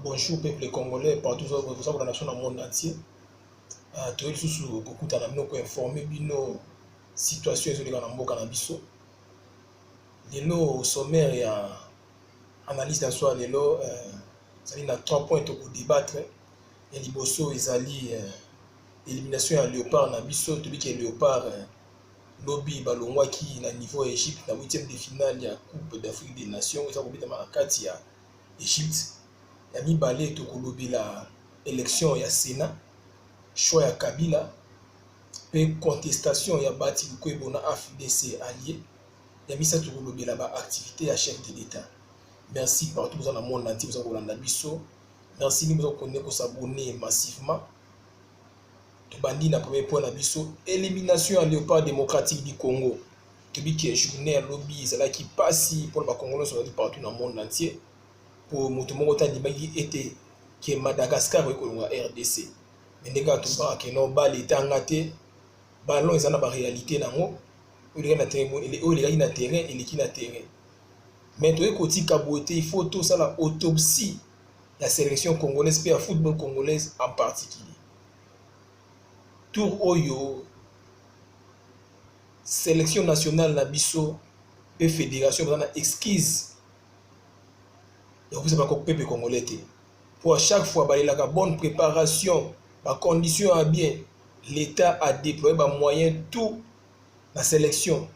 Bonjour peuple congolais partout oza kolanda biso na monde entier ah, toyei lisusu kokutana bino koinforme bino situation ezoleka na mboka na biso lelo sommaire ya analyse na soi lelo euh, ezali na trois points tokodebattre ya liboso ezali euh, élimination ya léopard na biso toyebi ke léopard euh, lobi balongwaki na niveau ya egypte na 8e de finale ya coupe d'afrique des nations eza kobetama na kati ya Egypte. Ya mibale tokolobela election ya Senat, choix ya Kabila pe contestation ya Baty Lukwebo na AFDC allie. Ya misato tokolobela ba activites ya chef de l'Etat. Merci partout boza na monde entier boza kolanda biso. Merci mingi boza ko continuer ko s'abonner massivement. Tobandi na premier point na biso, elimination ya Leopard democratique du Congo. Toyebi ke journée ya lobi ezalaki pasi mpo na ba Congolais nyonso bazali partout na monde entier, mpo moto moko te andimaki ete ke Madagascar ekoki kolonga RDC. Mais ndenge kaka tolobaka ke non bale etanga te, ballon eza na ba realite na yango, oyo elekaki na terrain bo ele- oyo elekaki na terrain eleki na terrain. Mais toyei kotika boye te, il faut tosala autopsie ya selection congolaise mpe ya football congolaise en particulier tour oyo selection nationale na biso mpe fédération baza na exquise ya kopesa bapepe congolais te mpo à chaque fois balelaka bonne préparation bacondition ya bien l'état a déploye bamoyen tout na selection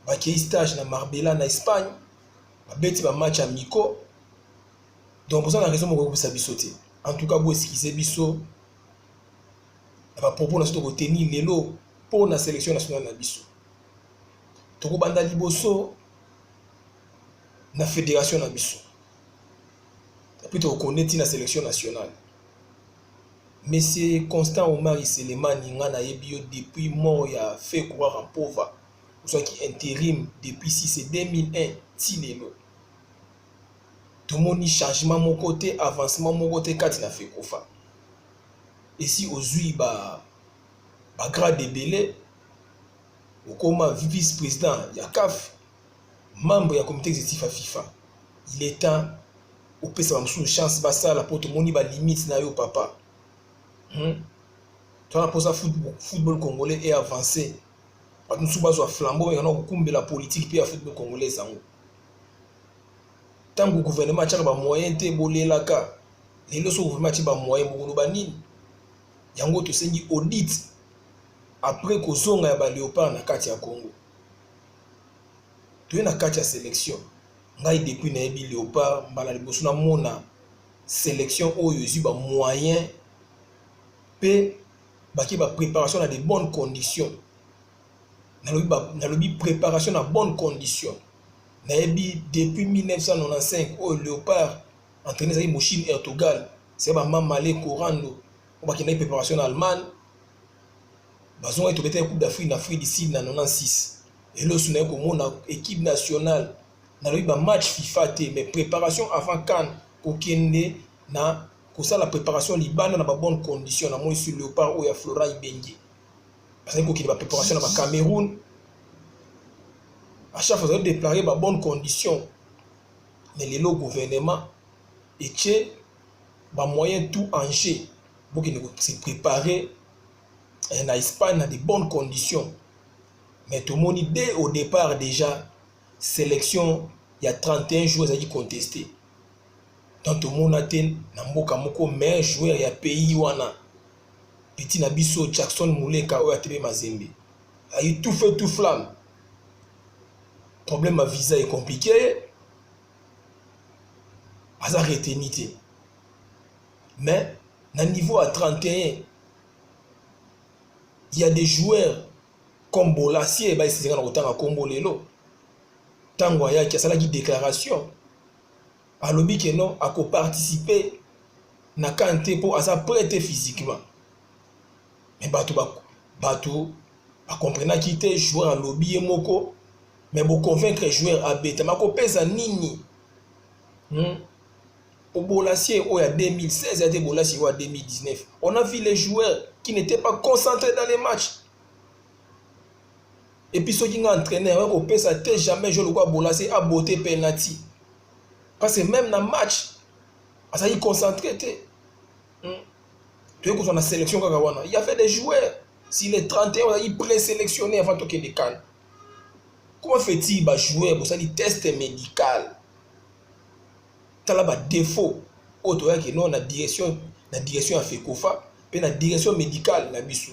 bakei stage na marbella na espagne babeti ba match amicaux donc boza na raison mokokobisa biso te en tout cas boeskize biso na bapropos na biso tokoteni lelo mpo na sélection nationale na biso tokobanda liboso na fédération na biso epuis tokokone ntina sélection nationale monsieur constant omari selemani ngai nayebi yo depuis mort ya fe courara mpova ozwaki interim depuis si c'est 2001 ti lelo tomoni changement moko te avancement moko te kati na fekofa esi ozwi ba bagrade ebele okoma vice président ya caf membre ya comité exécutif ya fifa il est temps opesa bamosusu chance basala mpo tomoni balimite na yo papa hmm? twana mposa football congolais e avance bato mosusu bazwa flambeau mekana kokumbela politike mpe ya football congolais yango ntango gouvernement atyaka bamoyen te bolelaka lelo so gouvernement atye bamoyen bokoloba nini yango tosengi audit après kozonga ya baleopard na kati ya congo toye na kati ya sélection ngai depuis nayebi leopard mbala liboso namona sélection oyo ezwi bamoyen mpe bake ba préparation na de bonnes conditions nalobi ba nalobi préparation na bonne condition nayebi depuis 1995 oyo léopard entraîné ezalaki moshine ertogal se bamamale corando oyo bakendaki préparation na allemagne bazongaki tobetaki coupe d'afrique na afrique du sud na 96 elosu naye komona équipe nationale nalobi bamatch fifa te mais préparation avant kane kokende na kosala préparation libanda na ba bonne condition na moi sur leopard oyo ya flora ibenge bazali kokende ba préparation na ba cameroun achaque fois azali déclare ba bonne condition mais lelo gouvernement etie ba moyen tout en jeu bokende kose préparer eh, na espagne na de bonnes conditions mais tomoni dès au départ déjà sélection ya 31 jours ezalaki contesté donc tomona te na mboka moko meilleur joueur ya pays wana petit na biso Jackson Muleka oyo atebe Mazembe ayi tout feu tout flamme problème ya visa est compliqué aza retenu te mais na niveau ya 31 il y a des joueurs comme Bolasie bayesezinga na kotanga kombo lelo ntango ayaki asalaki déclaration alobi ke non ako participer na CAN te mpo aza prêt te physiquement mais bato ba, bato bakomprenaki te joueur alobi ye moko mais boconvaincre joueur abeta makopesa nini hmm? obolasi oyo ya 2016 ate bolasi oyo ya 2019 on a vu les joueurs qui n'étaient pas concentrés dans les matchs Et puis soki nga entraîneur ouais, kopesa te jamais je le vois bolaser à beauté penalty. Parce que même dans match azali concentré te. Hmm. Tu es la sélection kaka wana. Il y avait des joueurs si les 31 ozali présélectionné avant toke de CAN. Comment fait-il ba jouer bosali test médical? Tala ba défaut oyo toyaki non na direction na direction ya FECOFA mpe na direction médicale na biso.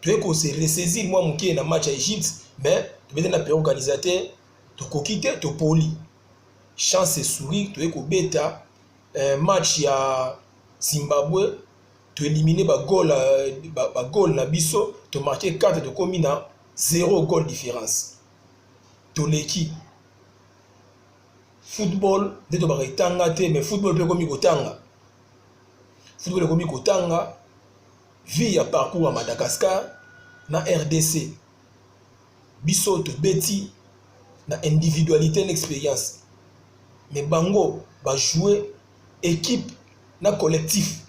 toye ko se ressaisir mwa moke na match ya egypte mais tobete na pere organisateur tokoki te topoli chance sourire toye kobeta eh, match ya zimbabwe toelimine bagole euh, ba gole na biso tomarke 4 tokomi na 0 gole différence toleki football nde tobaka etanga te mais football mpe ekomi kotanga football ekomi kotanga vie ya parcours ya madagascar na rdc biso tobeti na individualité na expérience me bango bajoue équipe na collectif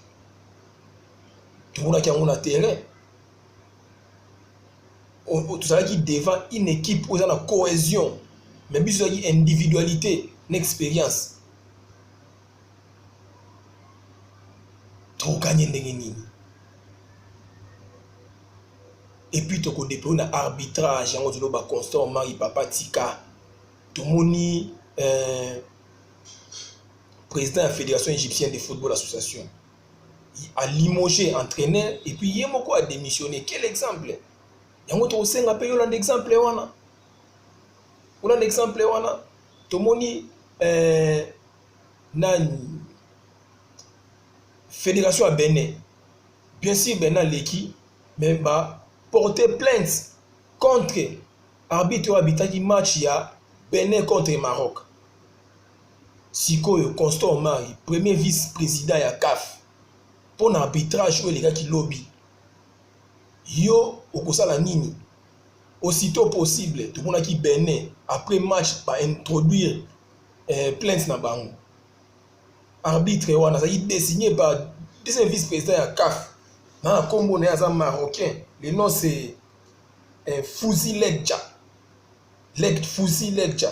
tomonaki yango na terrain tozalaki devant une équipe oyo eza na cohésion mais biso ezalaki individualité na expérience tokokani ye ndenge nini epuis tokodepo na arbitrage yango toloba constant omari papa tika tomoni euh, président ya fédération égyptienne de football association alimogé entraîneur epuis ye moko adémissionné quel exemple yango tokosenga mpe yolanda exemple wana kuna na exemple wana tomoni eh, nani fédération ya benin bien sûr benin aleki mais ba porte plainte contre arbitre oyo abitaki match ya benin contre maroc sikoyo constant omari premier vice président ya caf mpo na arbitrage oyo elekaki lobi yo okosala nini aussitot possible tomonaki bene après match ba introduire eh, plainte na bango arbitre wana azalaki dessiné par deuxième vice président ya caf na na nkombo na ye aza marocain le nom c'est eh, fuzi legja leg fuzi legja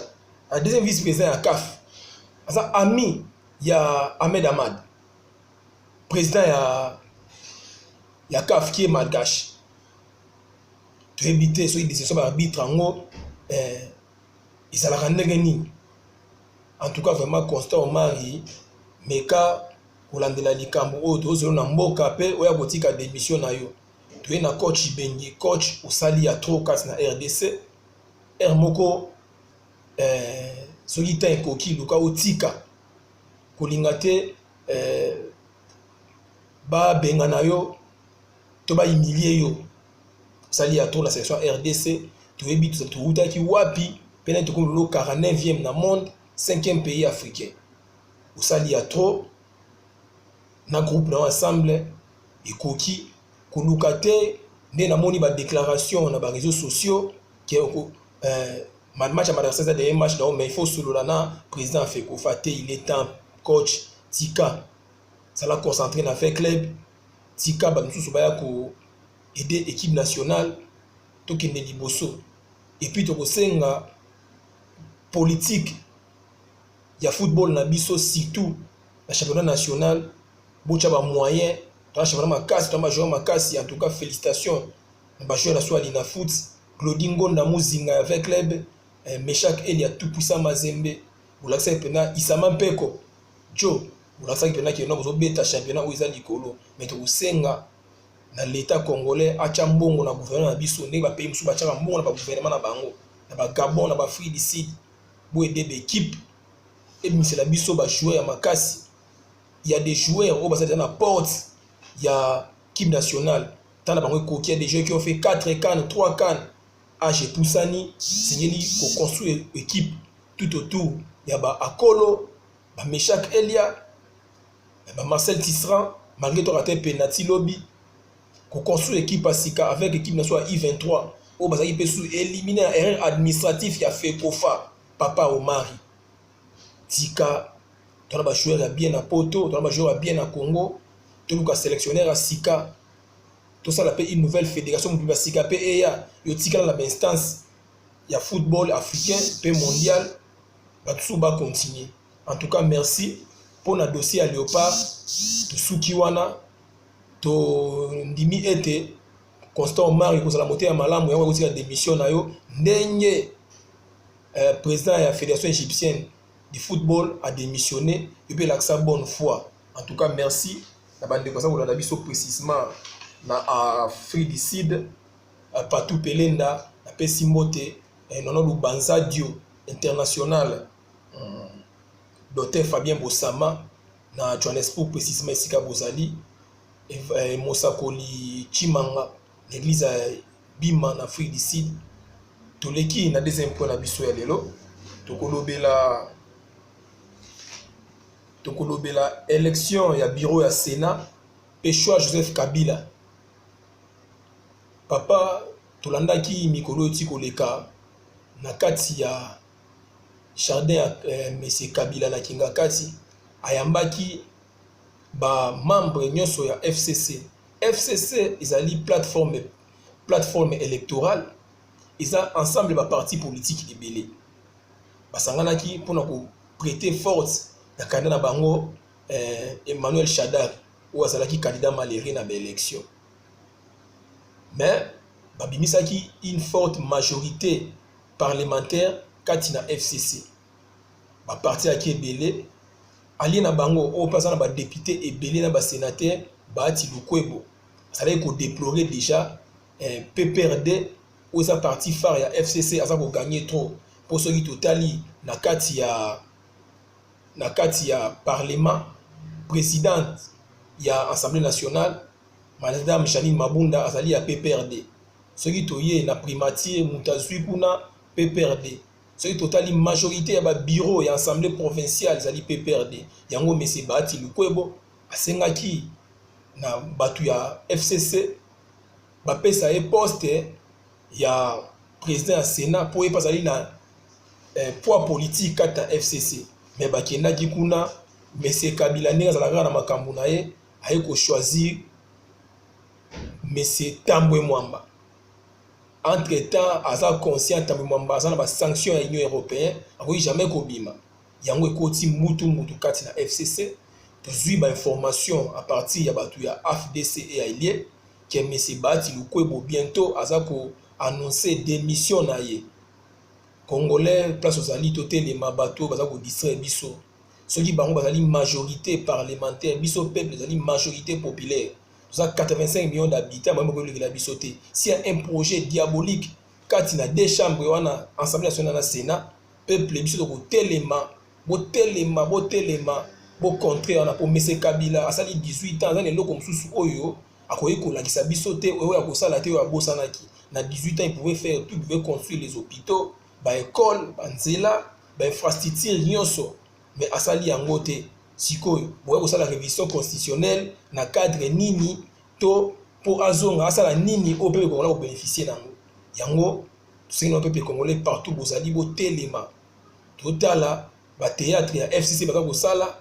a deuxième vice président ya caf aza ami ya ahmed amad président ya ya caf qui est malgache toyebi te soki decision ba arbitre yango eh, ezalaka ndenge nini en tout cas vraiment constant omari meka kolandela likambo oyo tozolo na mboka mpe oya kotika demission na yo toye na coach ibengi coach osali ya trop kati na rdc r moko eh, soki ntan ekoki luka otika kolinga te eh, babengana yo to ba humilier yo sali ya tour na section rdc toyebi towutaki wapi mpe nani tokomi lelo 49e na monde 5e pays africain osali ya trop na groupe na yo ensemble ekoki koluka te nde namoni badéclaration na baréseau sociaux ke euh, match ya madrasa eza deye match na yo mais il faut osolola na président ya fekofa te il est temps coach tika zala concentré na fait club Tika ba misusu baya ko aider equipe nationale tokende liboso et puis tokosenga politique ya football na biso surtout na championnat national botya ba moyens tona championnat makasi tona ba joueurs makasi en tout cas félicitations na ba joueurs na swali na foot Glody Ngonda Muzinga ya V Club eh, Meshak Elia Tupuisa Mazembe bolakisaki mpenza Isama Mpeko Joe bolakisaki mpena keno bozobeta championnat oyo eza likolo me tokosenga na leta congolais atya mbongo na gouvernement na biso ndenge bapays mosusu batyaka mbongo na bagouvernement na bango na bagabon na baafrique du sud bo ede baekipe ebimisela biso bajoueur ya makasi ya des joueurs oyo bazali na porte ya kipe nationale tala bango ekoki ya des joueurs qui ont fait 4 can 3 can age epusani esengeli koconstruire ekipe tout autour ya baakolo ba Meshak Elia, ba Marcel Tisserand, malgré toi raté penalty lobi, ko construire équipe sika avec équipe nationale I23 oyo bazaki mpe sous éliminer na erreur administratif ya FECOFA Papa Omari. Tika tona ba joueurs ya bien na Poto, tona ba joueurs ya bien na Congo, toluka sélectionneur ya sika. Tosala mpe une nouvelle fédération motu ya sika mpe eya yo tikala na ba instance ya football africain mpe mondial. batu susu ba continuer en tout cas merci mpo na dossier ya leopard tosuki wana tondimi ete constant omar ekozala moteya malamu yango ekotika démission na yo ndenge euh, président ya fédération égyptienne du football a démissionné yo mpe elakisa bonne foi en tout cas merci na bandeko aza kolanda biso précisement na afrique du sud euh, patou pelenda napesi mbote eh, nono lubanza dio international hmm. docteur fabien bosama na johannesburg precisement esika bozali eh, mosakoli chimanga na eglise ya bima na afrique du sud toleki na deuxième point na biso ya lelo tokolobela tokolobela élection ya bureau ya sénat mpe choix joseph kabila papa Tolandaki mikolo eti koleka na kati ya jardin ya eh, Monsieur Kabila na Kingakati ayambaki ba membres nyonso ya FCC. FCC ezali plateforme plateforme électorale eza ensemble ba parti politique ebele basanganaki mpona ko prêter force na candidat na bango eh, Emmanuel Shadari oyo azalaki candidat malere na baélection mais babimisaki une forte majorité parlementaire kati na fcc baparti yaki ebele alie na bango oyo mpe aza na badepute ebele na basenateur baati lukwebo azalaki kodeplore déjà eh, pprd oyo eza parti phare ya fcc aza kogagne trop mpo soki totali na kati ya na kati ya parlement présidente ya assemblée nationale Madame Janine Mabunda azali ya PPRD. Soki toye na primature moto azwi kuna PPRD. Soki totali majorité ya ba bureaux ya assemblée provinciale ezali PPRD. Yango monsieur Bahati Lukwebo asengaki na bato ya FCC bapesa ye poste ya président ya Sénat mpo ye mpe azali na eh, poids politique kati na FCC. Mais bakendaki kuna monsieur Kabila ndenge azalaka na makambo na ye aye ko choisir monsieur Tambwe Mwamba entre temps aza conscient Tambwe Mwamba aza na ba sanctions ya Union européenne akoki jamais kobima yango ekoti mbutu mbutu kati na FCC tozwi ba information à partir ya bato ya AFDC et ailier que monsieur Bahati Lukwebo bientôt aza ko annoncer démission na ye Congolais place ozali totelema bato oyo baza kodistraire biso soki bango bazali majorité parlementaire biso peuple ezali majorité populaire toza 85 millions d'habitants bango bakolekela biso te si ya un projet diabolique kati na deux chambres wana assemblée nationale na sénat peuple biso tokotelema botelema botelema bocontre wana po mese kabila asali 18 ans aza na eloko mosusu oyo akoki kolakisa biso te oyo akosala te oyo abosanaki na 18 ans il pouvait faire tout il pouvait construire les hôpitaux ba école banzela ba infrastructure nyonso mais asali yango te sikoyo boya kosala révision constitutionnelle na cadre nini to mpo azonga asala nini oyo pepe kongola kobénéficie nango yango tosengeli pepe congolais partout bozali botelema totala bateatre ya fcc baza kosala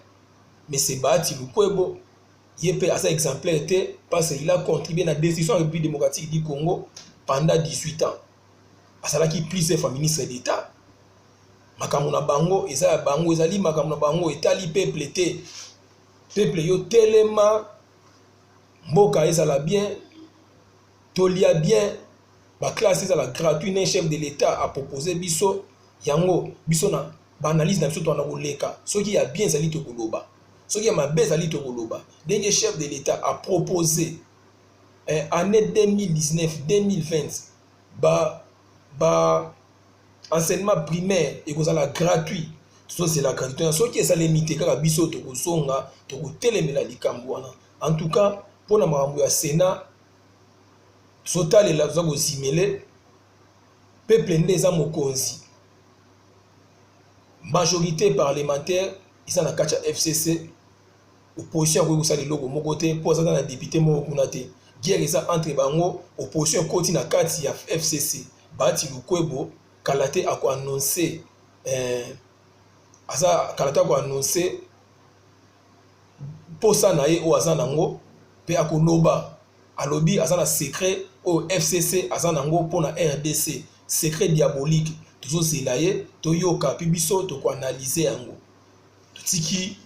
mese baati lukwebo ye mpe aza exemplaire te parce il a contribué na destruction ya république démocratique du congo pendant 18 ans azalaki plusieurs fois ministre d'état makambo na bango eza ya bango ezali makambo na bango etali peuple te peuple yo telema mboka ezala bien tolia bien baklasse ezala gratuit na chef de l'état apropose biso yango biso na ba analyse na biso toana koleka soki ya bien ezali tokoloba soki ya mabe ezali tokoloba ndenge chef de l'etat a propose eh, année 2019 2020 ba ba enseignement primaire ekozala gratuit tozozela gratuit wana soki esalemi te kaka biso tokozonga tokotelemela likambo wana en tout cas mpo na makambo ya sénat tozotalela toza kozimele peuple nde eza mokonzi majorité parlementaire eza na kati ya fcc opposition akoki kosala eloko moko te mpo azaka na depute moko kuna te guerre eza entre bango opposition ekoti na kati ya fcc bati lukwebo kala te akoannonce eh, aza kala te akoannonce mposa na ye oyo aza nango mpe akoloba alobi aza na secret oyo fcc aza nango mpo na rdc secret diabolique tozozela ye toyoka mpe biso tokoanalyze yango totiki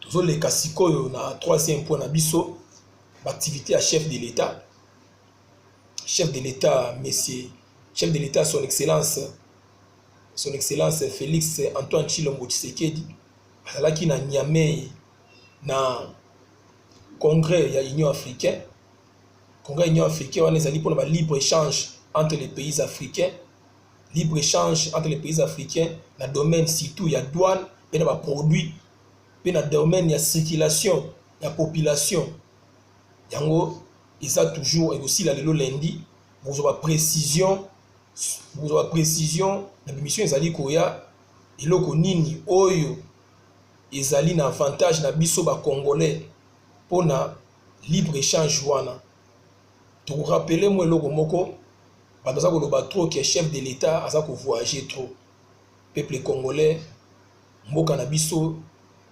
tozoleka sikoyo na troisième point na biso baactivité ya chef de l'état chef de l'état monsieur chef de l'état son excellence Son Excellence Felix Antoine Tshilombo Tshisekedi azalaki na Niamey na congrès ya Union africaine. Congrès ya Union africaine wana ezali mpona ba libre échange entre les pays africains libre échange entre les pays africains na domaine surtout ya douane mpe na baproduit mpe na domaine ya circulation ya population yango eza toujours ekosila lelo lundi bokozwa baprécision kozwa precision na bimission ezali koya eloko nini oyo ezali na avantage na biso ba congolais mpo na libre échange wana tokorapele mwa eloko moko bato baza koloba trop ke chef de l'état aza kovoyage trop peuple congolais mboka na biso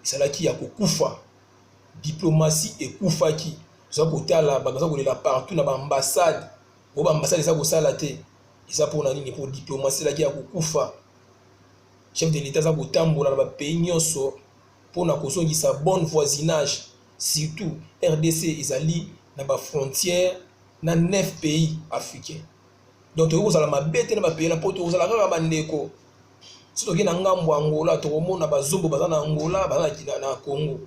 ezalaki ya kokufa diplomatie ekufaki toza kotala bato baza kolela partout na baambassade oyo bambasade eza kosala te eza mpona nini mpo diplomasi elaki ya kokufa chef de l'etat aza kotambola na bapays nyonso mpona kozongisa bonne voisinage surtout rdc ezali na bafrontière na 9 pays africain donc tokoki kozala mabe te na bapays na mpo tokozala kaka bandeko soki tokei na ngambo ya angola tokomona bazobo baza na angola baza na congo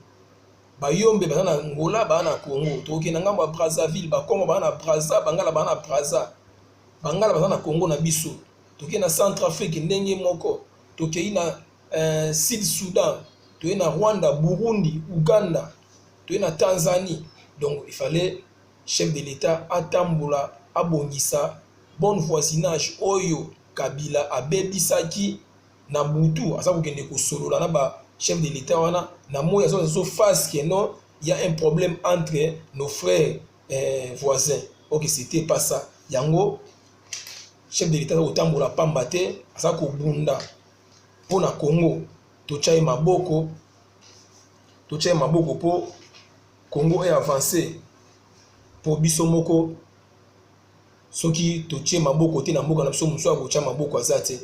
bayombe baza na ngola baa na congo tokokenda ngambo ya brazzaville bakongo baa na brazza bangala baa na brazza bangala baza na congo na biso tokei na centre afrique ndenge moko tokei na eh, sud soudan toyei na rwanda burundi uganda toyei na tanzanie donc il fallait chef de l'état atambola abongisa bonne voisinage oyo kabila abebisaki na butu aza kokende kosolola na ba chef de l'etat wana na moi aza zo face que non il y a un problème entre nos frères eh, voisins ok c'était pas ça yango chef de l'etat aza kotambola pamba te aza kobunda mpo na congo totya ye maboko totya ye maboko mpo congo e avance mpo biso moko Soki totie maboko te na mboka na biso mosusu akotia maboko aza te.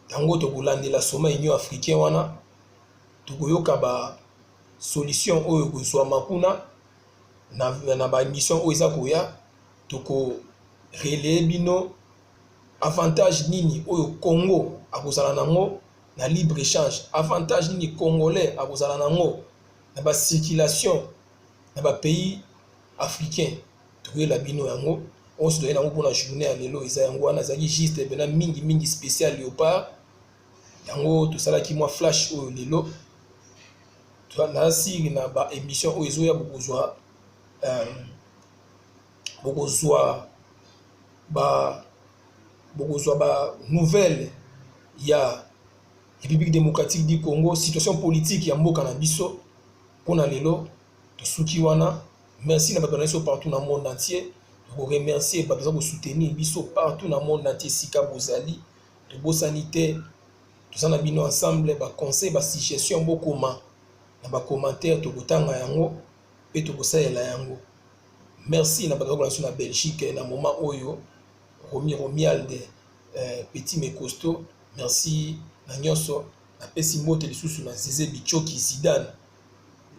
Yango tokolandela sommet Union africain wana tokoyoka ba solution oyo ekozwama kuna na, na ba mission oyo eza koya toko relayer bino avantage nini oyo Congo akozala nango na libre échange, avantage nini congolais akozala nango na ba circulation na ba pays africains. toyela bino yango oyo toyei nango mpona journée ya lelo eza yango wana ezalaki juste mpena mingi mingi spécial léopard yango tosalaki mwa flash oyo lelo nasili na ba émission oyo ezoya bokozwa euh, bokozwa ba bokozwa ba nouvelle ya république démocratique du congo situation politique ya mboka na biso mpona lelo tosuki wana merci na bato na biso partout na monde entier tokoremercie bato baza kosoutenir biso partout na monde entier esika bozali tobosani te toza na bino ensemble baconseil basuggestion bokoma na bacommentaire tokotanga yango mpe tokosalela yango merci na bato bakola biso na belgique na moment oyo romi romialde eh, petit mecosto merci na nyonso napesi mbote lisusu na zize bicoki zidane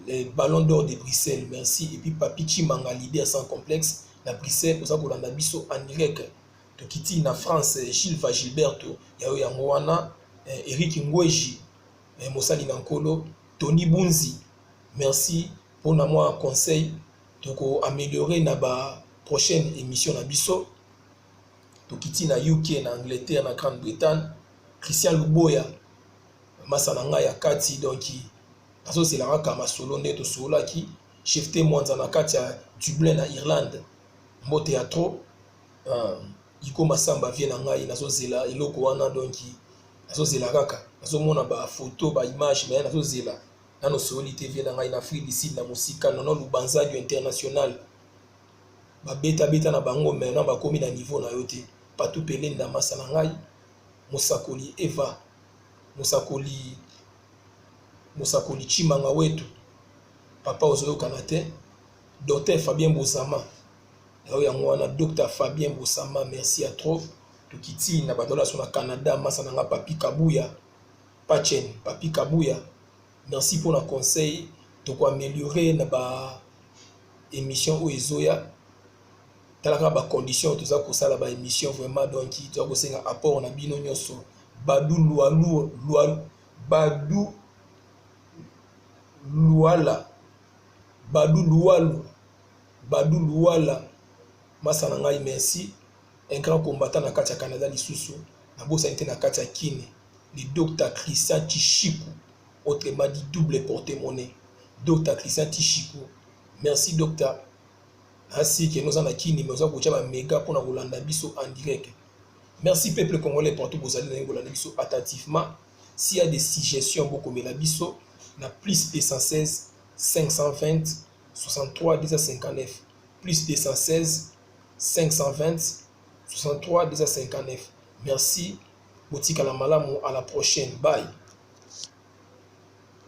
le ballon d'or de Bruxelles merci et puis Papi Chimanga leader sans complexe na Bruxelles oza kolanda biso en direct tokiti na France eh, Gilva Gilberto yayo yango wana eh, Eric Ngweji eh, mosali na nkolo Tony Bunzi merci mpo na mwa conseil toko améliorer na ba prochaine émission na biso tokiti na uk na angleterre na grande bretagne christian luboya masa na ngai ya kati donki azozela kaka masolo nde tosololaki chefte mwanza na kati ya dublin na irlande mbote ya trop uh, iko masamba vie na ngai nazozela eloko wana donki nazozela kaka nazomona bafoto baimage me nazozela nano soyoli te vie na ngai na afrique du sud na mosika nono lubanzadio international ba beta beta na bango maintenant bakomi na niveau na yo te Patou Pele Ndamasa na ngai mosakoli Eva mosakoli mosakoli Tshimanga Wetu papa ozoyokana te Docteur Fabien Bosama yango yango wana Docteur Fabien Bosama merci à trop tokiti na badola so na Canada masa na nga Papi Kabuya Pachen Papi Kabuya Merci pona conseil toko ameliore na ba emission oyo ezoya tala kaka ba condition oyo toza kosala ba emission vraiment donc toza kosenga apport na bino nyonso badu lualu lualu badu luala badu lualu badu luala masa na ngai merci un grand combattant na kati ya canada lisusu nabosani te na kati ya kine le Docta Christian Tshishiku autrement dit double porte monnaie Docta Christian Tshishiku merci Docta ainsi que noza na kini mais oza kotia ba mega pona kolanda biso en direct merci peuple congolais partout bozali na kolanda biso attentivement s'il y a des suggestions bokomela biso na plus 216 520 63 259 plus 216 520 63 259 merci Botikala malamu à la prochaine bye.